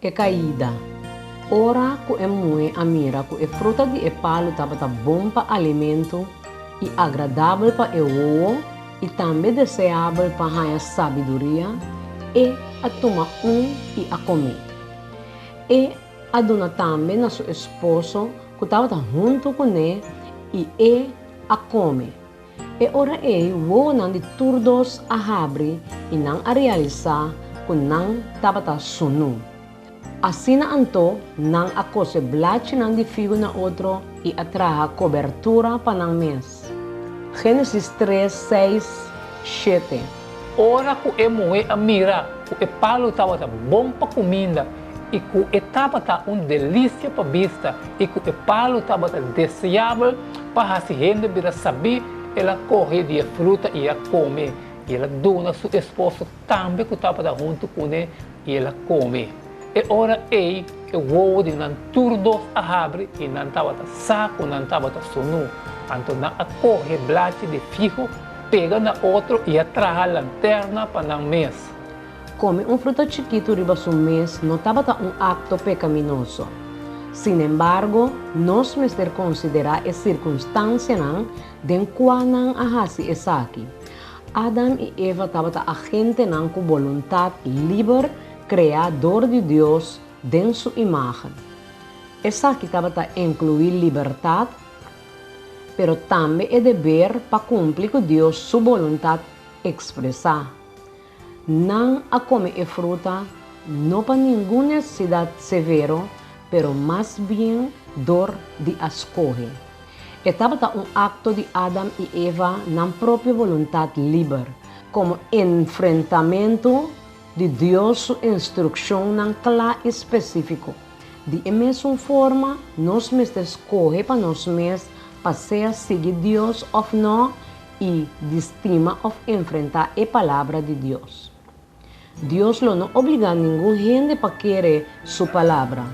E kaida. Ora ku e muhe a mira ku e fruta di e palu tabata bon pa alimentu i agradabel pa e owo i tambe deseabel pa haña sabiduria, e a tuma un i a kome. E a duna tambe na su esposo ku tabata huntu kuné i e a kome. E ora ei wowonan di tur dos a habri i nan a realisá ku nan tabata sunú. Asina anto nan a kose blachinan di figu na otro i a traha kobertura pa nan mes. Génesis tres, seis, shete. Ora ku e muhé a mira ku e palu tabata bon pa kuminda i ku e tabata un delisia pa bista i ku e palu tabata deseabel pa hasi hende bira sabí, el a kohe di e fruta i a kome, i el a duna su esposo tambe ku tabata huntu kuné. i el a kome. E ora ei e wowo di nan tur dos a habri i nan tabata sa ku nan tabata sunú. Anto nan a kohe blachi di figu, pega na otro i a traha lanterna pa nan mes. Kome un fruta chikitu riba su mes no tabata un akto pekaminoso. Sinembargo, nos mester konsiderá e sirkunstansianan den kua nan a hasi esaki. Adam i Eva tabata agentenan ku boluntat liber kreá dor di Dios den su imágen. Esaki tabata enkluí libertat, pero tambe e deber pa kumpli ku Dios su boluntat ekspresá. Nan a kome e fruta no pa ningun nesesidat severo, pero mas bien dor di a skohe. E tabata un akto di Adam i Eva nan propio boluntat liber, komo enfrentamentu di Dios su instrukshonnan kla i spesífiko. Di e mesun forma, nos mester skohe pa nos mes pa sea sigui Dios òf nò i di stima òf enfrentá e Palabra di Dios. Dios lo no obligá ningun hende pa kere Su Palabra.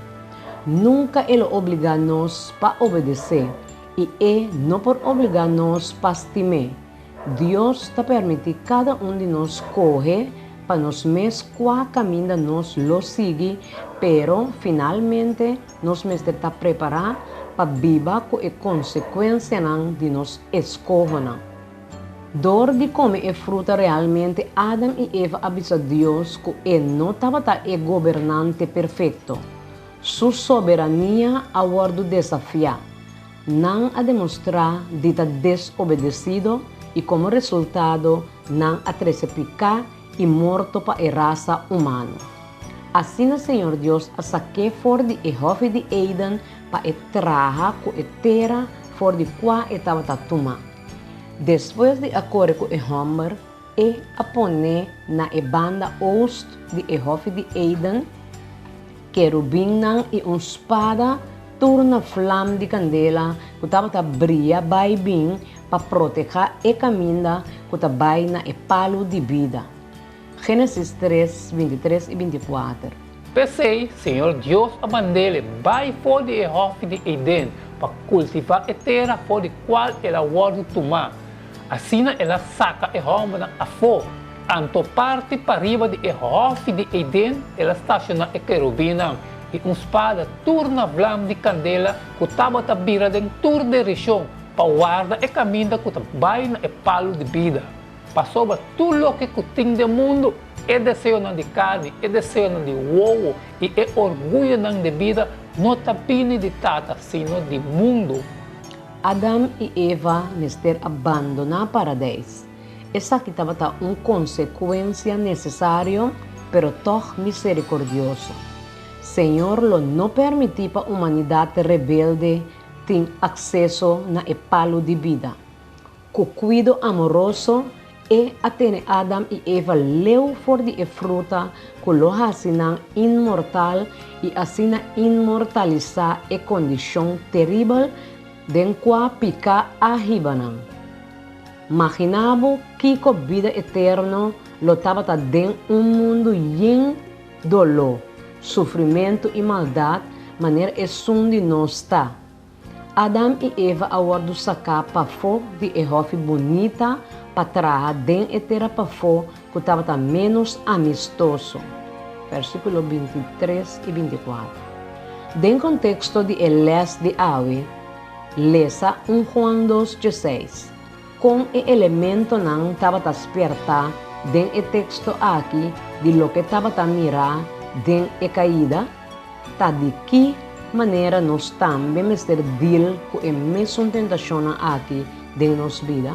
Nunca E lo obligá nos pa obedecé i E no por obligá nos pa stim'É. Dios ta permití cada un di nos scoge pa nos mes cua caminda nos lo sigui, pero finalmente nos mester ta prepará pa biba cu e consecuencianan di nos escohonan. Dor di kome e fruta realmente Adam i Eva a bisa Dios ku e no tabata e gobernante perfekto. Su soberania a wòrdu desafiá. Nan a demostrá di ta desobedesido i komo resultado nan a trese piká i morto pa e rasa humano. Asina Señor Dios a sak'é for di e hòfi di Eden pa e traha ku e tera for di kua e tabata tumá. Despues di a kore ku e hòmber, e a pone na e banda oust di e hòfi di Eden kerubinnan i un spada tur na flam di kandela ku tabata bria bai bin pa protehá e kaminda ku ta bai na e palu di bida. Génesis tres, binti i tres i binti i kuater. P'esei, Señor Dios a mand'Ele bai for di e hòfi di Eden pa kultivá e tera for di kual El a wòrdu tumá. Asina El a saka e hòmbernan afó, anto parti pariba di e hòfi di Eden El a stashoná e kerubinnan i un spada tur na vlam di kandela ku tabata bira den tur direshon pa warda e kaminda ku ta bai na e palu di bida. Pasoba tur loke ku tin den mundu, e deseonan di karni, e deseonan di wowo i e orguyonan di bida no ta bini di Tata, sino di mundu. Adam i Eva mester a bandoná Paradeis. Esaki tabata un konsekuensia nesesario, pero tòg miserikordioso. Señor lo no permití pa humanidat rebelde tin akseso na e palu di bida. Ku kuido amoroso E a tene Adam i Eva leu for di e fruta ku lo hasi nan inmortal i asina inmortalisá e kondishon teribel den kua piká a hiba nan. Maginá bo kiko bida eterno lo tabata den un mundu yen doló, sufrimentu i maldat manera esun di nos ta. Adam i Eva a wòrdu saká pafó di e hòfi bunita pa traha den e tera pafó ku tabata ménos amistoso. Versíkulo binti tres i binti kuater. Den konteksto di e lès di awe, lesa un Juan dos dje seis, kon e elementonan tabata spiertá den e teksto aki di loke tabata mirá den e kaida? Ta di ki manera nos tambe mester deal ku e mesun tentashonnan aki den nos bida?